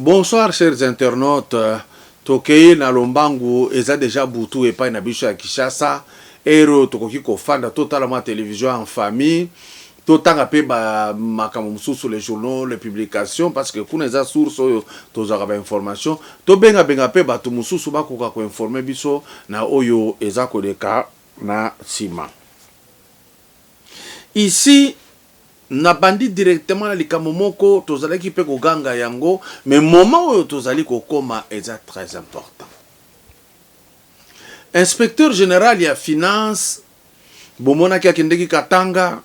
Bonsoir chers internautes tokeyi na lombangu eza dejà butu epai na biso ya Kinshasa heure oyo tokoki kofanda totala mwa television en famille totanga pe ba makambo mosusu les journaux les publications parce que kuna eza source oyo tozwaka ba information tobenga benga pe bato mosusu bakoka ko informer biso na oyo eza koleka na sima Ici nabandi directement na likambo moko tozalaki pe koganga yango mais moment oyo tozali kokoma eza très important. Inspecteur general ya finance bomonaki akendeki Katanga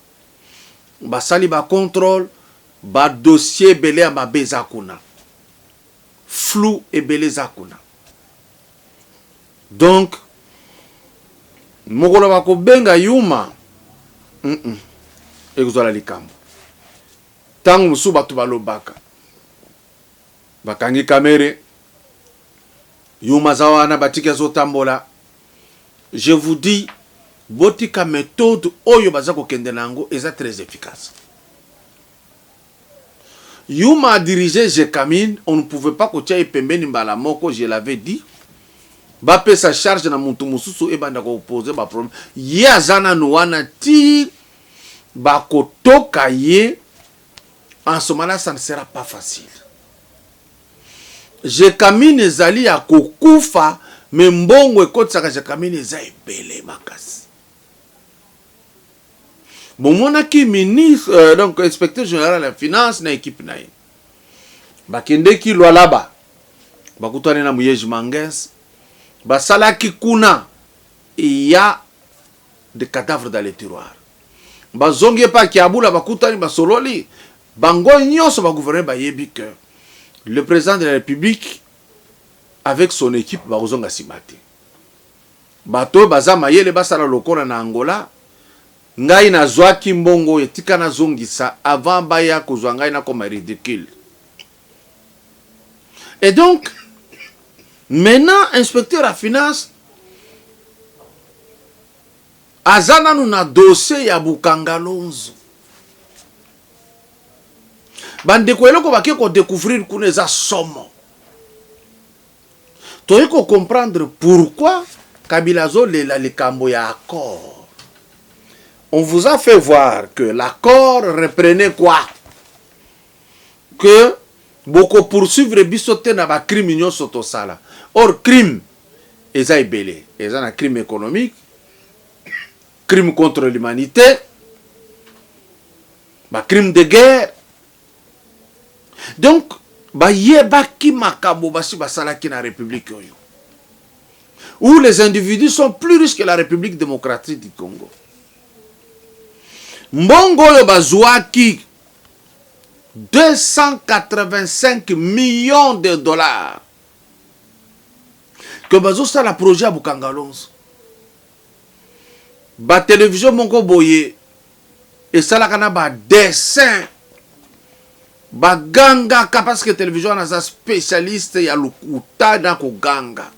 basali ba controle ba dossier ebele ya mabe eza kuna flou ebele eza kuna. donc mokolo bakobenga yuma hum ekozala likambo ntango mosusu bato balobaka bakangi kamere yuma aza wana batiki azotambola je vous dis botika methode oyo baza kokende na yango eza très efficace Yuma a dirige Gecamine, on ne pouvait pas kotia ye pembeni mbala moko, je l'avais dit. Bapesa charge na mutu mosusu ebanda ko poser ba problèmes. Ye aza nanu wana tii bakotoka ye, en ce moment-là ça ne sera pas facile. Gecamine ezali ya kokufa mais mbongo ekotisaka Gecamine eza ebele makasi. bomonaki ministre euh, donc inspecteur général ya finance na ekipe na ye bakendeki lwalaba bakutani na muyeji manges basalaki kuna ya de cadavre dans le tiroir bazongi epai kiabula bakutani basololi bango nyonso bagouverneur bayebi que le président de la république avec son équipe bakozonga nsima te Bato oyo baza mayele basala lokola na Angola ngai na zuaki mbongo oyo tika na zongisa avant baya kozua ngai na koma ridicule et donc maintenant inspecteur ya finance aza nanu na dossier ya Bukangalonzo bandeko eloko bake ko decouvrir kuna eza somo Toye ko comprendre pourquoi kabila azo lela likambo ya accord on vous a fait voir que l'accord reprenait quoi que boko poursuivre biso te na ba crime nyonso tosala or crime eza ebele eza na crime économique crime contre l'humanité ba crime de guerre Donc bayebaki makambo basi basalaki na republique oyo où les individus sont plus riches que la République démocratique du Congo. Mbongo oyo bazuaki 285 millions de dollars que bazosala projet ya Bukangalonzo. Ba télévision moko boye esalaka na ba dessin ba gangaka parce que television wana aza specialiste ya lokuta na koganga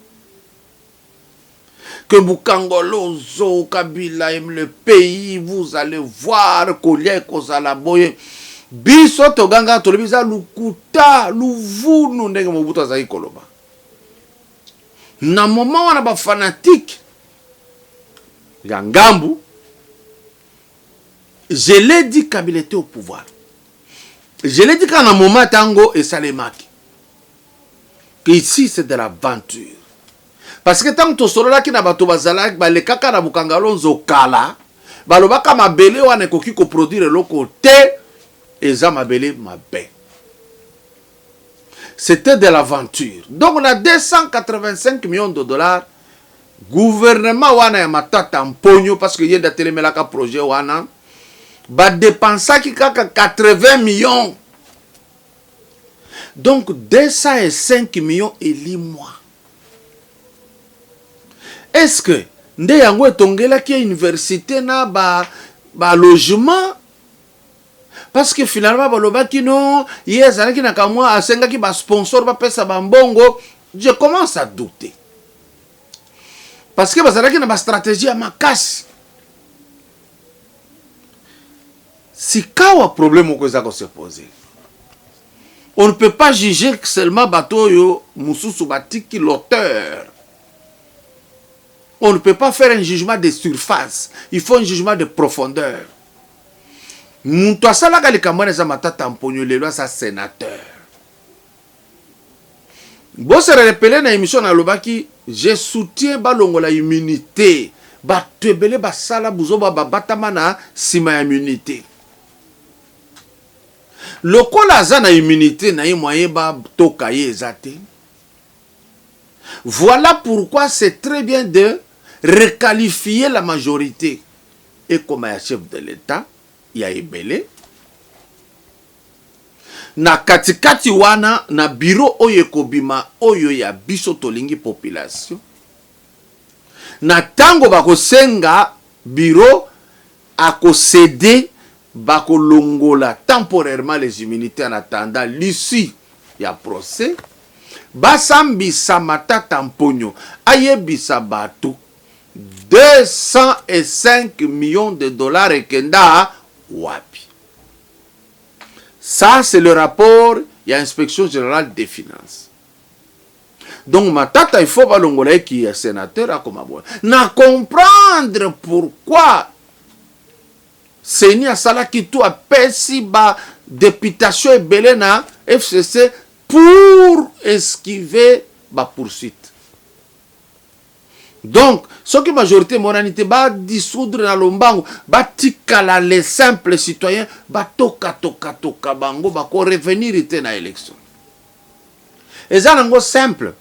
que Bukangolozo, Kabila aime le pays, vous allez voir, kolia ekozala boye. Biso toganga tolobi eza lukuta, luvunu ndenge Mobutu azali koloba. Na moment wana ba fanatiques ya ngambu je l'ai dit kabila était au pouvoir je l'ai dit kaka na moment tango esalemaki que ici c'est de l'aventure parce que ntango tosololaki na bato bazalaki balekaka na bukangalonzo kala balobaka mabele wana ekoki koproduire eloko te eza mabele mabe C'etait de l'aventure donc na 285 millions de dollars gouvernement wana ya Matata Mponyo parce que ye nde atelemelaka projet wana ba depensaki kaka 80 millions donc 205 millions elimwa est ce que nde yango etongelaki ye universite na ba, ba logement Parce que finalement balobaki no ye azalaki na kamwa asengaki ba sponsor bapesa ba mbongo je commence à douter parce que bazalaki na ba stratégie ya makasi sikawa problème moko eza kose poser on ne peut pas juger seulement bato oyo mosusu batiki l'auteur on ne peut pas faire un jugement de surface il faut un jugement de profondeur Mutu asalaka likambo wana eza Matata Mponyo lelo aza senateur. Bo se relepeler na emission na lobaki je soutiens ba longola immunite batu ebele ba sala buzoba ba batama na sima ya immunite. Lokola aza na immunite na ye moyen ba toka ye eza te. Voilà pourquoi c'est très bien de requalifier la majorite. ekoma ya chef de l'etat ya ebele na katikati wana na biro oyo ekobima oyo ya biso tolingi population na tango bakosenga biro akosede bakolongola temporairement les immunités en attendant l'issue ya procès basambisa matata mponyo ayebisa bato 205 millions de dollars ekenda wapi? Ça c'est le rapport ya inspection generale des finances. Donc Matata il faut balongola ye ki ya senateur akoma boye. Na comprendre pourquoi Seni asalaki tout apesi ba deputation ebele na FCC pour esquiver ba poursuites. Donc soki majorite emonani te ba dissoudre na lombango batikala les simples citoyens batoka toka toka bango bako revenir te na election. Eza nango simple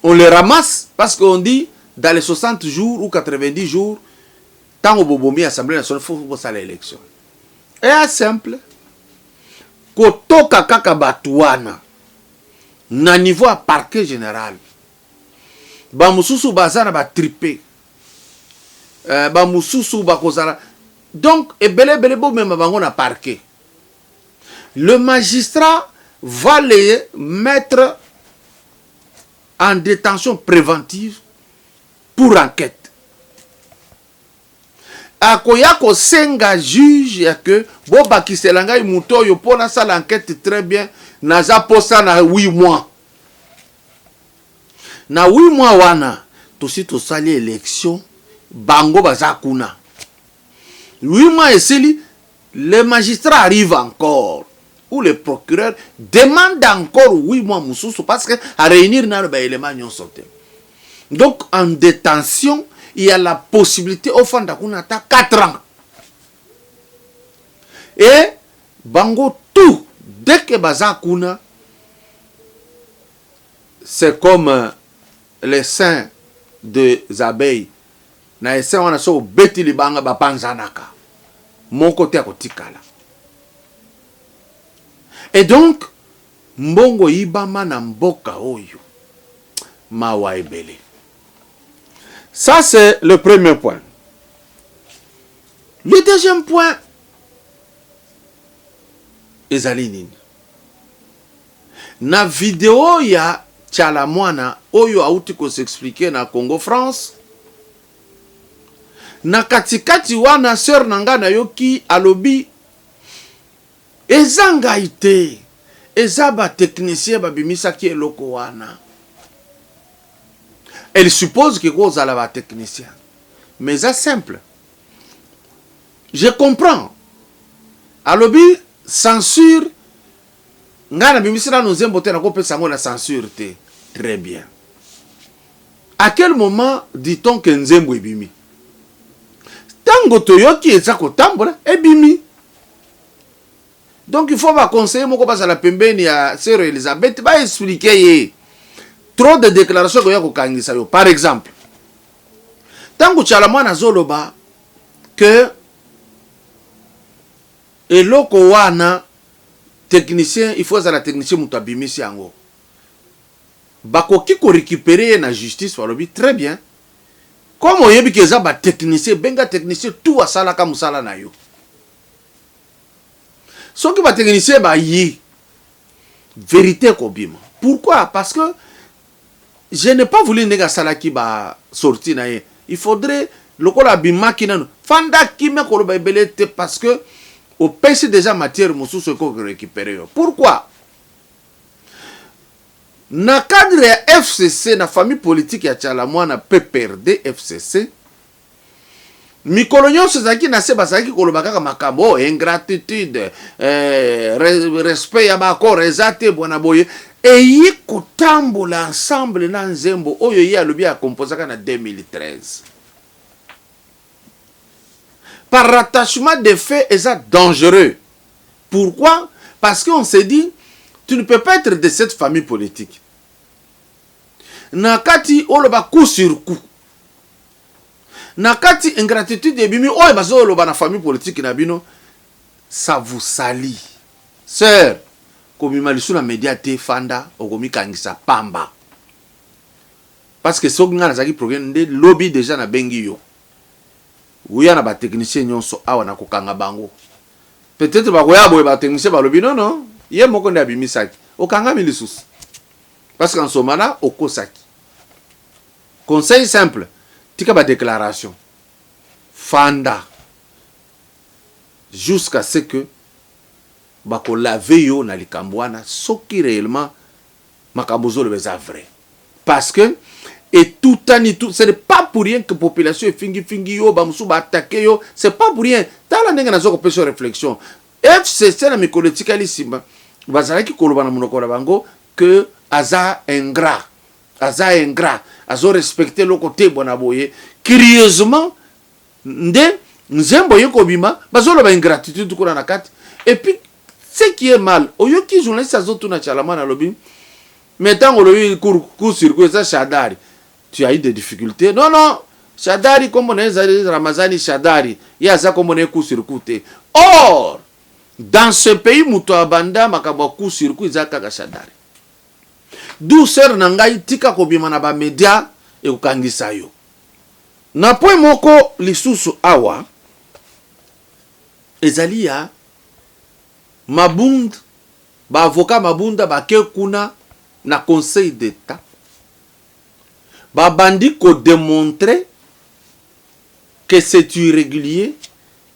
on les ramasse parce qu'on dit dans les 60 jours ou 90 jours tango bobomi assemblée nationale faut bosala election. Ea simple kotoka kaka bato wana na niveau ya parquet general Ba mususu baza na ba tripe. Euh, ba mususu bakozala donc ebele ebele bomema bango na parquet. Le magistrat va les mettre en détention préventive pour enquête. akoya kosenga juge ya ke bobakisela ngai moto oyo mpo nasala enquête très bien naza mposa na 8 mois Na huit mois wana tosi tosali election bango baza kuna huit mois esili le magistrat arrive encore ou le procureur demande encore huit mois mususu parce que a reunir nanu ba element nionso te donc en detention il y a la possibilite ofanda kuna ata 4 ans et Bango tout dès que baza kuna c'est comme l'essaim des abeilles na essaim wana soki obeti libanga ba panzanaka moko te ako tikala et donc mbongo eyibama na mboka oyo mawa ebele ça c'est le premier point le deuxième point ezali nini? Na video ya Tshala Mwana oyo auti ko s'expliquer na Congo France, na katikati wana sœur na nga nayoki alobi eza ngai te, eza ba techniciens babimisaki eloko wana. Elle suppose que kozala ba techniciens mais eza simple Je comprends alobi censure ngai na bimisi nanu nzembo te nako pesa yango na censure te très bien à quel moment dit on que nzembo ebimi tango toyoki eza kotambola ebimi donc il faut ba conseiller moko bazala pembeni ya sœur Elisabeth ba expliquer ye trop de déclaration koya kokangisa yo par exemple tango tshala mwana azoloba que eloko wana technicien il faut azala technicien mutu abimisi yango bakoki ko recuperer ye na justice balobi très bien comme oyebi ke eza ba technicien benga technicien tout asalaka musala na yo soki ba technicien bayi verite ekobima pourquoi parce que je n'ai pas voulu ndenge asalaki ba sortie na ye il faudrait lokola abimaki nanu fanda kimia koloba ebele te parce que opesi dejà matière mosusu eko ko recuperer yo pourquoi na cadre ya FCC na famille politique ya Tshala Muana PPRD, FCC. Mikolo nyonso ezalaki na se, bazalaki koloba kaka makambo oyo, oh, ingratitude, eh, respect ya baakor eza te, bwana boye eye kotambola ensemble na nzembo oyo ye alobi akompozaka na 2013 par rattachement de fait eza dangereux pourquoi parce qu'on se dit tu ne peux pas être de cette famille politique Nakati oloba coup sur coup. Nakati ingratitude ebimi oyo bazo loba na famille politique na bino ça vous salit. Soeur kobima lisusu na media te fanda okomikangisa pamba. Parce que soki nga nazaki programme nde lobi deja na bengi yo. Oya na ba technicien nyonso awa na kokanga bango. Peut-être bakoya boye ba technicien balobi non non ye moko nde abimisaki. Okangami lisusu. Parce qu'en ce moment-là, okosaki. Conseil simple, tika ba declarations. Fanda jusqu'à ce que bako laver yo na likambo wana soki reellement makambo ozoloba eza vrai. Parce que etutani tout, ce n'est pas pour rien que population efingi fingi yo, ba mosusu ba attaquer yo, c'est pas pour rien. Tala ndenge nazo kopesa yo reflexion. FCC na mikolo etikali sima bazalaki koloba na monoko na bango que aza ingrat aza ingrat azo respecte eloko te bona boye curieusement nde nzembo eye kobima bazoloba ingratitude kuna na kati et puis ce qui est mal oyoki journaliste azotuna chalamana alobi mais ntango olobi cour circuit eza shadari tu as eu des difficultés non non shadari nkombo na ye ezali ramazani shadari ye aza nkombo na ye cour circuit te or dans ce pays mutu abanda makambo ya coup sur coup eza kaka shadary d'où soeur na ngai tika kobima na ba media ekokangisa yo na point moko lisusu awa ezali ya mabund ba avocat mabunda bake kuna na conseil d'etat babandi kodemontre que c'est irrégulier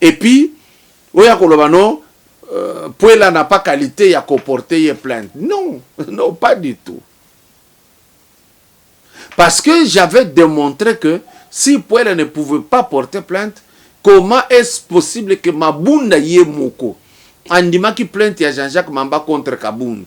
Et puis oya koloba no euh, Puela n'a pas qualité ya ko porter ye plainte. Non, non pas du tout. Parce que j'avais démontré que si Puela ne pouvait pas porter plainte, comment est-ce possible que Mabunda ye moko andimaki plainte ya Jean-Jacques Mamba contre Kabund?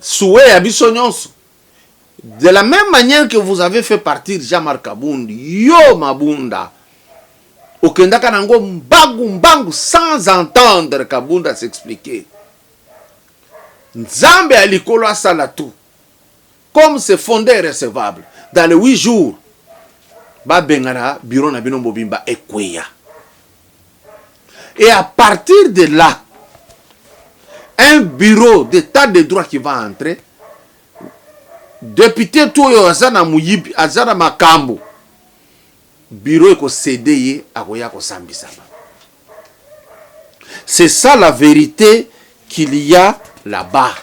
souhait ya biso nyonso de la même manière que vous avez fait partir Jean-Marc Kabund yo Mabunda okendaka nango mbangu mbangu sans entendre Kabund à s'expliquer Nzambe ya likolo asala tout Comme c'est fonde et recevable, dans les huit jours, ba bengana bureau na bino mobimba ekweya. Et à partir de là, un bureau d'état de droit qui va entrer, depute tu oyo aza na muyibi, aza na makambo, Bureau eko cede ye akoya kosambisama c'est ça la verite qu'il ya la bas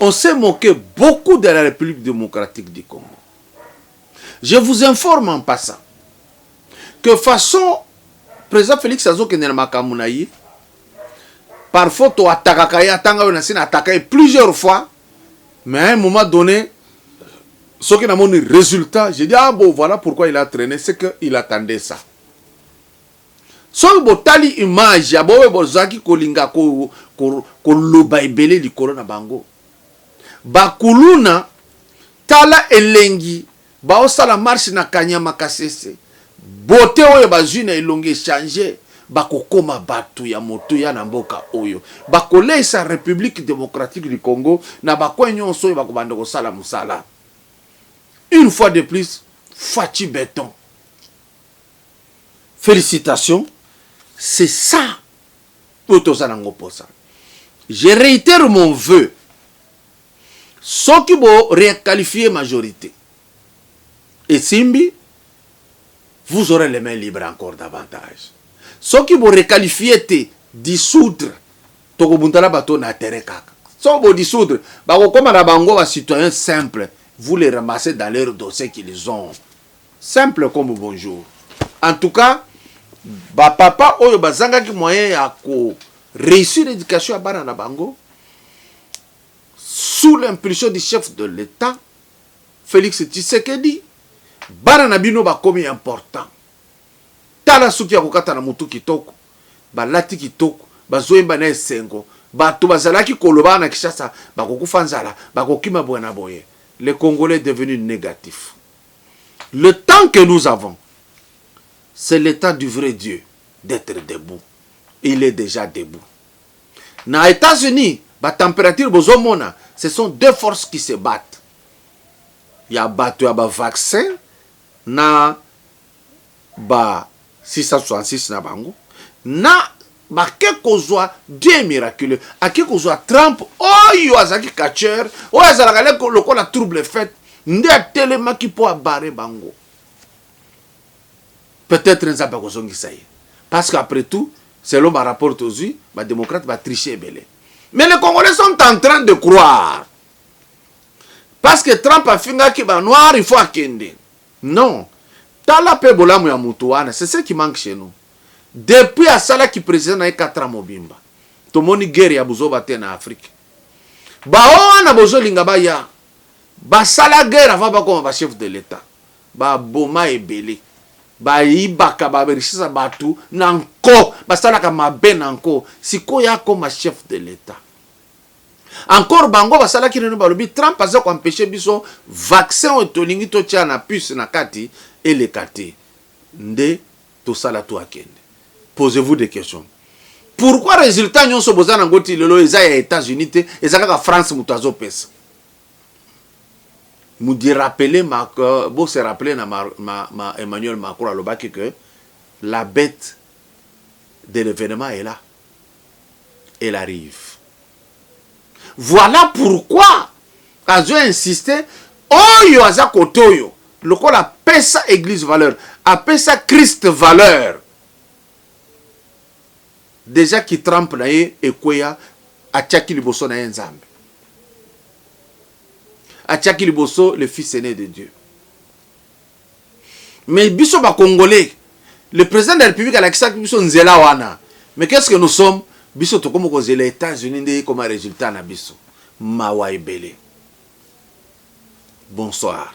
on ce moque beaucoup de la Republique democratique du Congo je vous informe en passant que façon president Felix azokende na makambo na ye parfois to atakaka ye atanga yo na sina ataka ye plusieurs fois mais à un moment donne soki na moni resultat je dis ah bon voilà pourquoi il a traîné c'est que il attendait ça soki botali image ya boye bozalaki kolinga koloba ko, ko ebele likolo na bango bakuluna tala elengi Bao sala marche na kanyama kasese beaute oyo bazui na elongi echanger bako koma batu ya motuya na mboka oyo bako leisa republique democratique du congo na ba coin nionso oyo bako banda kosala musala une fois de plus fatshi beton felicitation c'est ça oyo toza nango posa je reitere mon vœux Soki bo requalifier majorite esimbi, vous aurez les mains libres encore davantage. Soki bo requalifier te, dissoudre, toko bunda na bato na terrain kaka. Soki bo dissoudre, bako koma na bango ba citoyens simples, vous les ramassez dans leurs dossiers qu'ils ont. Simple comme bonjour. En tout cas, ba papa oyo bazangaki moyen ya ko reussir education ya bana na bango, sous l'impulsion du chef de l'Etat Felix Tshisekedi bana na bino bakomi important tala suki ya kokata na mutu kitoko balati kitoko bazoyemba na esengo bato bazalaki koloba na Kinshasa bakokufa nzala bakokima boye na boye le congolais est devenu negatif le temps que nous avons c'est le temps du vrai Dieu d'être debout il est déjà debout Na etats unis ba temperature bozo mona ce sont deux forces qui se battent ya batu ya ba vaccin na ba 666 na bango na bake kozua Dieu est miraculeux ake kozua Trump oyo azalaki catcheur oyo azalaka nde lokola trouble fete nde atelemaki po a barrer bango peut-etre nzambe akozongisa ye parce que après tout selon ba rapport tozui ba democrate ba triche ebele mais les congolais sont en train de croire parce que trump afingaki ba noir il faut akende non tala pe bolamu ya mutu wana c'est ce qui manque chez nous depuis asalaki president na ye 4 ans mobimba tomoni guerre ya buzoba te na afrique baoyo wana bozolinga baya basala guerre avant bakoma ba chef de l'etat Ba boma ebele. Ba yibaka ba richesse batu na nko. Ba salaka mabe na nko. Sikoyo ye akoma chef de l'etat. Encore bango ba salaki reuno ba lobi Trump aza ko empecher biso vaccin oyo to lingi to tia na puce na kati eleka te. Nde to sala tout akende. Posez vous des questions. Pourquoi resultat nionso boza na ngo ti lelo eza ya etats unis te eza kaka France mutu azo pesa. Mudi rappeler ma bo se rappeler na ma Emmanuel Macron alobaki que la bete de l'evenement est là elle arrive voilà pourquoi azo insister oyo aza kote oyo lokola apesa eglise valeur apesa Christ valeur Dejà ki Trump na ye ekweya atiaki liboso na ye Nzambe. Atiaki liboso le fils aine de Dieu. Mais biso ba congolais le president de la republique alakisaki biso nzela wana mais qu'est ce que nous sommes biso tokomi kozela etats unis nde ekoma resultat na biso mawa ebele bonsoir.